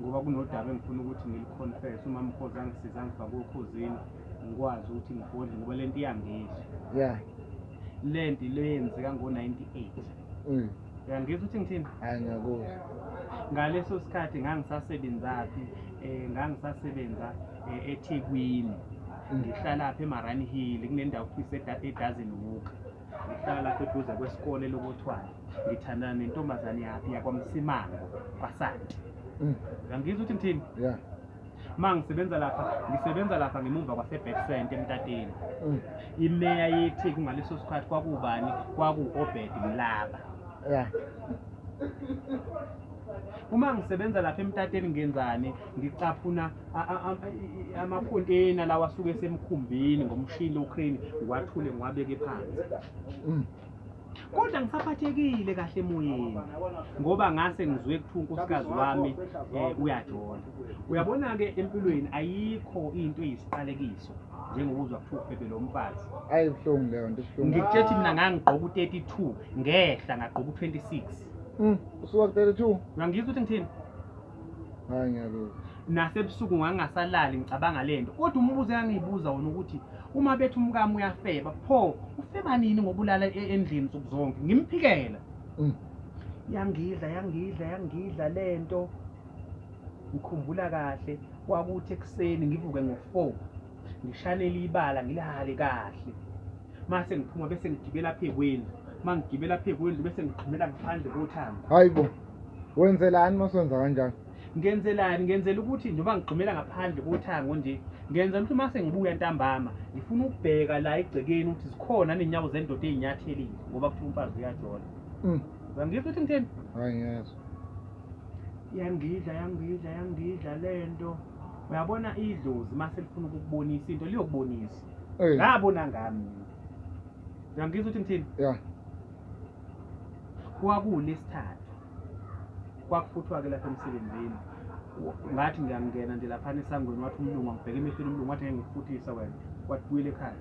ngoba kunodaba engifuna ukuthi ngiliconfess uma mkhozi angisiza angifake okhozini ngikwazi ukuthi ngigodle ngoba le nto iyangizwa ya le nto le yenzeka ngo-ninety-eight mm. uyangizwa ukuthi ngithini hayi ngiyakuzwa ngaleso sikhathi ngangisasebenzaphi um ngangisasebenza um ethekwini mm. ngihlalaphi emarani hill kunendawo kuthiwa edozen walk Ngihlala lapha eduze kwesikole lokuthwala. Ngithandana nentombazane yakhe yakwaMsimango kwaSanti. Mm. Ngangizwa ukuthi ngithini? Yeah. Uma ngisebenza lapha, ngisebenza lapha ngemumva kwaseBacksent eMtateni. Mm. Imeya yethi kungaleso sikhathi kwakubani? Kwaku-Obed Mlaba. Yeah. Uma ngisebenza lapha eMtateni ngenzani? Ngicaphuna amakonteyina lawa asuke esemkhumbini ngomshini ocrane ngiwathule ngiwabeke phansi mm. kodwa ngisaphathekile kahle emoyeni ngoba ngase ngizwe kuthiwa unkosikazi wami um uyajola uyabona-ke empilweni ayikho into eyisiqalekiso njengokuzwa kuthiwa ufebe lo mfazi ayi buhlungu leyo nto buhlungu ngikutshethi mina ngangigqoka u-thirty two ngehla ngagqoka u-twenty six mm, usuka ku-thirty two ngangizwa ukuthi ngithini Hayi ngiyalokhu. Nasebusuku ngangingasalali ngicabanga lento. Kodwa umbuzo engangiyibuza wona ukuthi uma bethi umkami uyafeba, pho ufeba nini ngobulala e- endlini nsuku zonke? Ngimphikela. Mm. Yangidla, yangidla, yangidla lento. Ngikhumbula kahle kwakuthi ekuseni ngivuke ngo-4. ngishanele ibala ngilale kahle mase ngiphuma bese ngigibela phe kwendlu mangigibela phe kwendlu bese ngigqumela ngaphandle kothango hayibo wenzelani masenza kanjani ngenzelani ngenzela ukuthi njengoba ngigqumela ngaphandle kothango nje ngenzela ukuthi mase ngibuya ntambama ngifuna ukubheka la egcekeni ukuthi zikhona nenyawo zendoda ezinyathelile ngoba kuthiwa umfazi uyajola mm. uyangizwa ukuthi ngitheni hayi ngiyezwa yangidla yangidla yangidla lento uyabona idlozi uma selifuna ukukubonisa into liyokubonisa Eh, ngabona ngami uyangizwa ukuthi ngithini yeah. kwakuwulesithathu kwakufuthwa-ke lapha emsebenzini Wa- ngathi ngiyangena nje laphana esangweni wathi umlungu angibheke emehlweni umlungu wathi ngeke ngikufuthisa wena wathi buyela ekhaya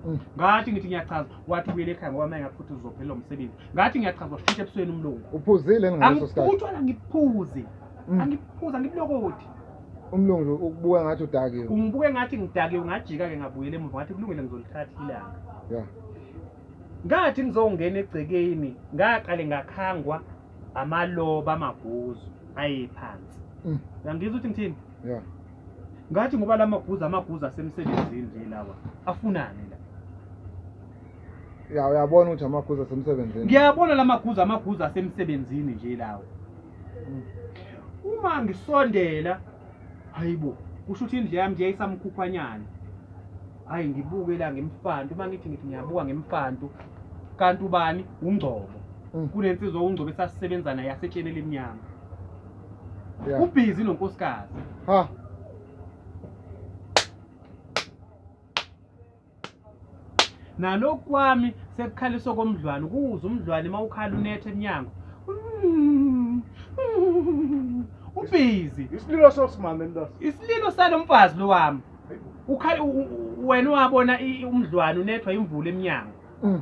Mm. ngathi ngithi ngiyachaza wathi buyela ekhaya ngoba uma engakufuthisa uzophelelwa umsebenzi ngathi ngiyachaza washintsha ebusweni umlungu Uphuzile yini ngaleso sikhathi? angiphuthwa la ngiphuze Mm. angiphuza ngibulokoti umlungu nje ukubuka ngathi udakiwe ungibuke ngathi ngidakiwe ngajika-ke ngabuyela emuva ngathi kulungile ngizolithatha ilanga ya ngathi ngizongena egcekeni ngaqale ngakhangwa amaloba amaguzu ayephansi Mm. uyangizwa ukuthi ngithini ya ngathi ngoba la maguzu amaguzu asemsebenzini nje lawa afunani la ya uyabona ukuthi amaguza asemsebenzini ngiyabona la maguzu amaguzu asemsebenzini nje lawa uma ngisondela hayibo kusho ukuthi indle yami nje isamkhukhwanyana hayi ngibuke la ngemfanto uma ngithi ngithi ngiyabuka ngemfanto kanti ubani ungcobo mm. kunensizwa ungcobo esasisebenza naye yasetsheni elimnyama ubhizi nonkosikazi ha nalokhu kwami sekukhaliswa komdlwane ukuwuza umdlwane uma ukhala unetha emnyango ubhizi isililo sosimame mntwana isililo salo mfazi lo wami ukhale wena wabona umdlwane unethwa imvula emnyango mm.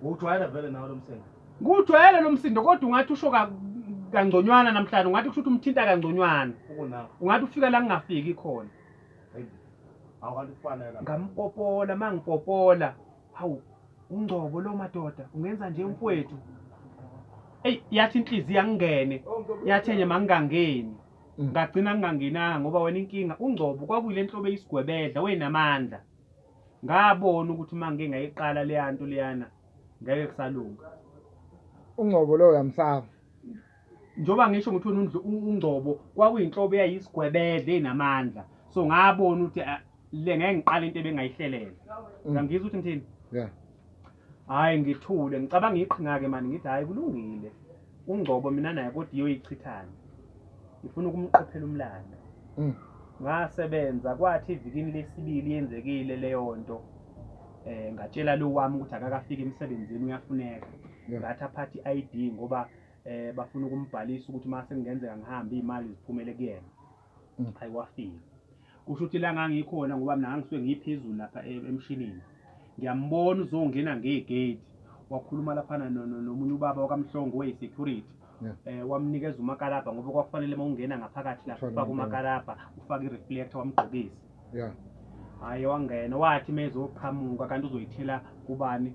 ujwayela vele nawe lo msenga Ngujwayele lo msindo kodwa ungathi usho ka, kangconywana namhlanje, ungathi kusho ukuthi umthinta kangconywana. Ungathi ufika la ngingafiki khona. Ngampopola, mangipopola. Hawu, uNgcobo lo madoda, ungenza nje umfwethu. Eyi, yathi inhliziyo angingene, yathi enye mangingangeni. Ngagcina ngingangenanga ngoba wena inkinga, uNgcobo kwakuyile nhlobo eyisigwebedla, wayenamandla. Ngabona ukuthi mangike ngayiqala leya nto leyana. ngeke kusalunga. Ungcobo lo uyamsaba. Njoba ngisho ukuthi wena undlu ungcobo kwakuyinhlobo eyayisigwebedle enamandla. So ngabona ukuthi ah, le ngeke ngiqale into ebengayihlelele. Mm. Uyangizwa ukuthi ngithini? Yeah. Hayi ngithule ngicabanga iqhinga ke mani ngithi hayi kulungile. ungcobo mina naye kodwa iyoyichithana ngifuna ukumqophela umlando Mm. ngasebenza kwathi evikini lesibili yenzekile leyo nto eh ngatshela lo wami ukuthi akakafiki emsebenzini uyafuneka Yeah. ngathi aphathi i-ID ngoba eh bafuna ukumbhalisa ukuthi mase kungenzeka ngihambe imali ziphumele kuyena Ngiphaye wafika. Kusho ukuthi la ngangikhona ngoba mina ngangisuke ngiphezulu lapha e, emshinini. Ngiyambona uzongena ngegate. Wakhuluma laphana nomunye ubaba wakaMhlongo oyi-security. Eh wamnikeza umakalabha ngoba kwakufanele uma ungena ngaphakathi lapha ufake umakalabha, ufake i-reflector wamgqokisa. Yeah. Hayi wangena wathi mezoqhamuka kanti uzoyithela kubani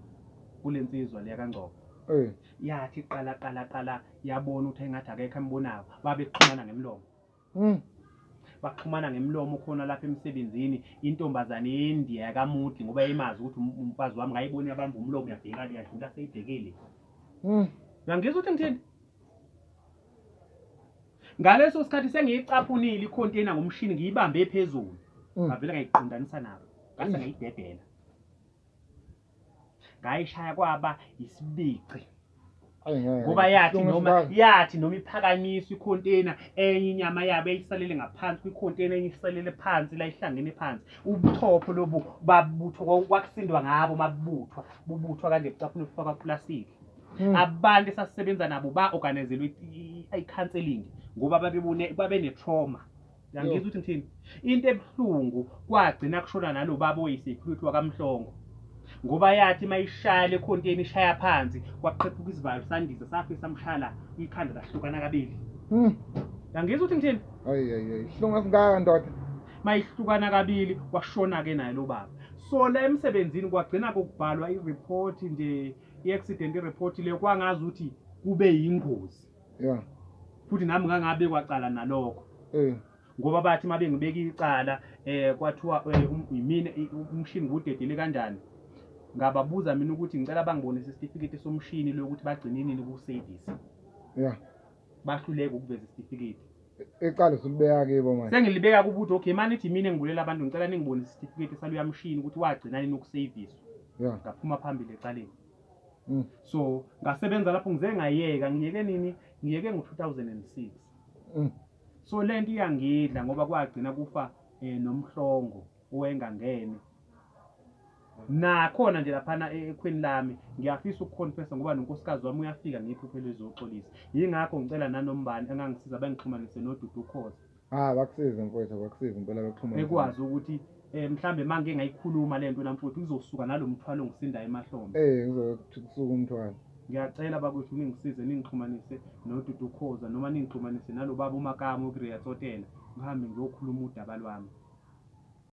kule nsizwa leya kaNgcobo. Eh. Yathi qala qala qala yabona ukuthi engathi akekho embonayo babexhumana ngemlomo. Mm. Baxhumana ngemlomo khona lapha emsebenzini intombazane yeNdiya yakamudli ngoba yayimazi ukuthi um- umfazi wami ngayibona yabamba umlomo yabhekana yadlula seyibhekile. Mm. Uyangizwa ukuthi ngithini? Ngaleso sikhathi sengiyicaphunile i-container ngomshini ngiyibambe phezulu. Mm. Ngavele ngayiqondanisa nabo. Ngase Eish. ngayidedela. ngayishaya kwaba yisibici ngoba yathi noma yathi noma iphakanyiswa ikhonteyina enye inyama yabo eyisalele ngaphansi kwikhonteyina enye isalele phansi la ihlangene phansi ubuchopho lobu babuthwa kwakusindwa ngabo mabubuthwa bubuthwa kanje bucaphuna kufakwa plastic hmm. abantu esasebenza nabo ba-organizelwe i-counseling ngoba babebone babenetrauma Yangizwa ukuthi ngithini? Into ebuhlungu kwagcina kushona nalo baba oyisecurity wakamhlongo ngoba yathi uma ishaya le khonteni ishaya phansi kwaqephuka isivalo sandiza safe samshala umkhanda lahlukana kabili hmm. yangizwa ukuthi ngithini ihlungu esingaka ndoda uma ihlukana kabili kwashona-ke naye lo baba so la emsebenzini kwagcina kokubhalwa iripoti nje i-accident iripoti leyo kwangazi ukuthi kube yingozi yeah. futhi nami ngangabekwa cala nalokho eh. ngoba bathi uma bengibeka icala um kwathiwa eh, um, yimina umshini ngudedele kanjani ngababuza mina ukuthi ngicela bangibonise isitifiketi somshini lokuthi bagcinenini kusevisi yeah. bahluleke ukuveza isitifiketi eqale silibeka kibo manje sengilibeka kubuthi okay mani ithi mina ngibulela abantu ngicela ningibonise isitifiketi saluyamshini ukuthi wagcina nini ukuseviswa yeah. ngaphuma phambili ecaleni Mm. So ngasebenza lapho ngize ngayeka ngiyeke nini? Ngiyeke ngo-2006. Mm. So le nto iyangidla ngoba kwagcina kufa eh, nomhlongo owayengangene nakhona nje laphana e-, ekhweni lami ngiyafisa ukuconfessa ngoba nonkosikazi wami uyafika ngephupho elizoxolisa yingakho ngicela nanombani engangisiza bengixhumanise nodudu ukhoza Ah abakusize mfowethu abakusize impela abaxhumana. Bekwazi ukuthi eh mhlambe mangike ngayikhuluma lento namfowethu kuzosuka nalomthwalo ngisinda emahlombe. Eh kuzothi kusuka umthwalo. Ngiyacela bakwethu ningisize ningixhumanise noDudu Khoza noma ningixhumanise nalobaba uMakamo kuReya Tsotela ngihambe ngiyokhuluma udaba lwami.